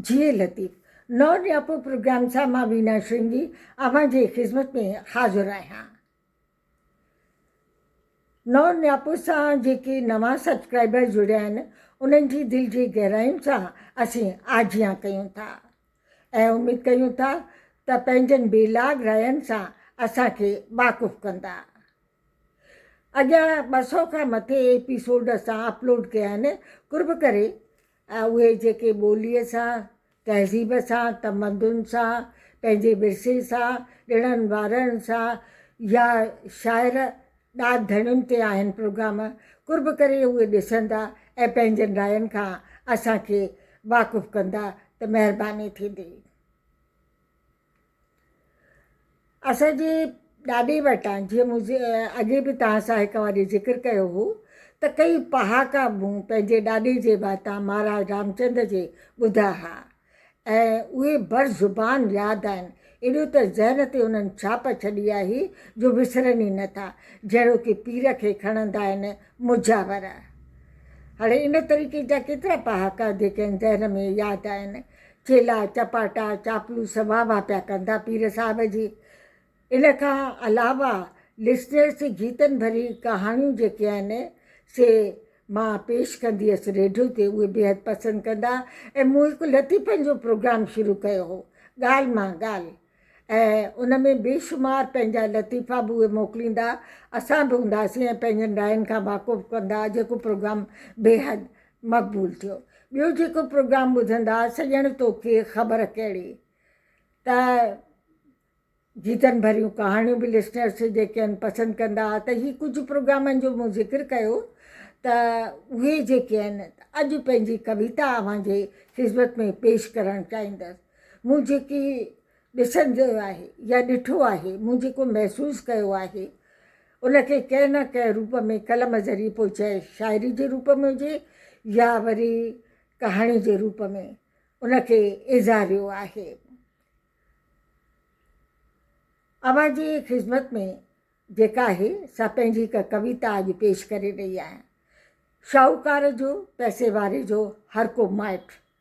جي لطيف نو ڏياپو پروگرام سان مان وينا شرنگي اوهان جي خدمت ۾ حاضر آهيان. نور نياپور سان جيڪي نوان سبسڪرائبر جڙيا آهن انهن جي دل جي گهراين سان اسين آجيان ڪيون ٿا ۽ اميد ڪيون ٿا ته پنهنجن بي لاگ راين سان اسان کي واقف ڪندا اڳيان ٻه سؤ کان مٿي ايپيسوڊ اسان اپلوڊ ڪيا آهن قرب ڪري ۽ اهي جيڪي ٻوليء سان، تهذيب سان، تمدن سان، پنهنجي ورثي سان، ڏڻن وارڻن سان يا شاعر ڏات ڌڻين تي آهن پروگرام قرب ڪري اهي ڏسندا ۽ پنهنجن راين کان اسان کي واقف ڪندا ته مهرباني ٿيندي. اسان جي ڏاڏي وٽان جيئن مون اڳي به توهان سان هڪ واري ذڪر ڪيو هو ته ڪيئي پهاڪا مون پنهنجي ڏاڏي جي واتان مهاراج رامچند جي ٻڌا ها ۽ اهي بر زبان ياد آهن ايڏو ته ذهن تي انهن ڇاپ ڇڏي آهي جو وسرن ئي نه ٿا جهڙوڪ پير کي کڻندا آهن مجاور هاڻي ان طريقي جا ڪيترا پهاڪا جيڪي ذهن ۾ ياد آهن چيلا چپاٽا چاپلوس واه واه پيا ڪن ٿا پير صاحب جي ان کان علاوه لسنرس جيتن ڀري ڪهاڻيون جيڪي آهن سي مان پيش ڪندي هيس ريڊيو تي اهي بيحد پسند ڪندا ۽ مون هڪ لطيفن جو پروگرام شروع ڪيو هو ڳالهه مان ڳالهه ۽ ان ۾ بيشمار پنهنجا لطيفا به اهي موڪليندا اسان به هونداسين ۽ پنهنجن راين کان واقف ڪندا جيڪو پروگرام بيحد مقبول ٿيو ٻيو جيڪو پروگرام ٻڌندا سڄڻ توکي خبر ڪهڙي ته گيتن ڀريون ڪهاڻيون به لسنرس جيڪي آهن پسند ڪندا ته هي ڪجهه پروگرامن جو مون ذڪر ڪيو ته اهي جيڪي آهن اڄ پنهنجي ڪويتا اوهان جي خدمت ۾ پيش ڪرڻ چاهيندس مون جيڪي ڏسڻ جويو آهي يا ڏٺو آهي، مون جيڪو محسوس ڪيو آهي، ان کي ڪنهن نه ڪنهن روپ ۾ قلم ذريعي پوء چاهي شاعري جي روپ ۾ هجي يا وري ڪهاڻي جي روپ ۾ ان کي ايذاريو آهي. اوهان جي خذمت ۾ جيڪا آهي سا پنهنجي هڪ ڪويتا اڄ پيش ڪري رهي آهيان. شاهوڪار جو، پئسي واري جو، هر ڪو مائٽ.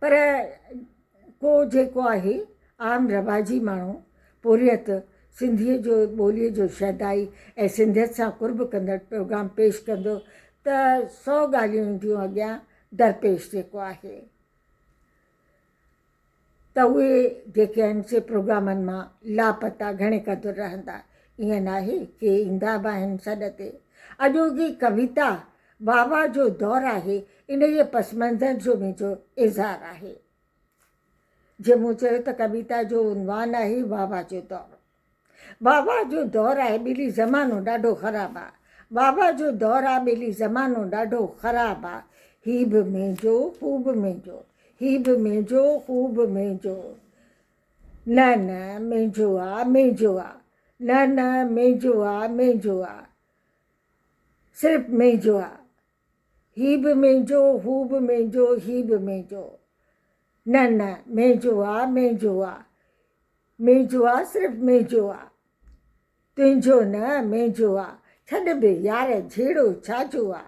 پر ڪو جيڪو آهي عام رواجي ماڻهو پورهيت سنڌيء جو ٻوليء جو شيدائي ۽ سنڌيت سان قرب ڪندڙ پروگرام پيش ڪندو ته سو ڳالهيون اينديون اڳيان درپيش جيڪو آهي ته اهي جيڪي آهن سي پروگرامن مان لاپتا گهڻي قدر رهندا ائين ناهي ڪي ايندا به آهن سڏ تي اڄوڪي ڪويتا واوا جو دور آهي، انهيء پس منظر جو منهنجو اظهار آهي. جيئن مون چيو ته ڪويتا جو عنوان آهي واوا جو دور. واوا جو دور آهي ٻيلي زمانو ڏاڍو خراب آ. واوا جو دور آ ٻيلي زمانو ڏاڍو خراب آ. هي به منهنجو، هو به منهنجو. هي به منهنجو، هو به منهنجو. نه نه منهنجو آ، منهنجو آ. نه نه منهنجو آ، منهنجو آ. صرف منهنجو آ هي به منهنجو هو به منهنجو هي به منهنجو نه نه منهنجو آ منهنجو آ منهنجو آ صرف منهنجو آ تنهنجو نه منهنجو آ ڇڏ به يار جهيڙو ڇاجو آ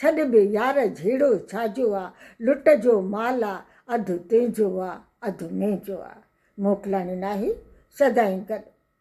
ڇڏ به يار جهيڙو ڇاجو آ لٽ جو مال آ اڌ تنهنجو آ اڌ منهنجو آ موڪلاڻي ناهي سدائين گڏ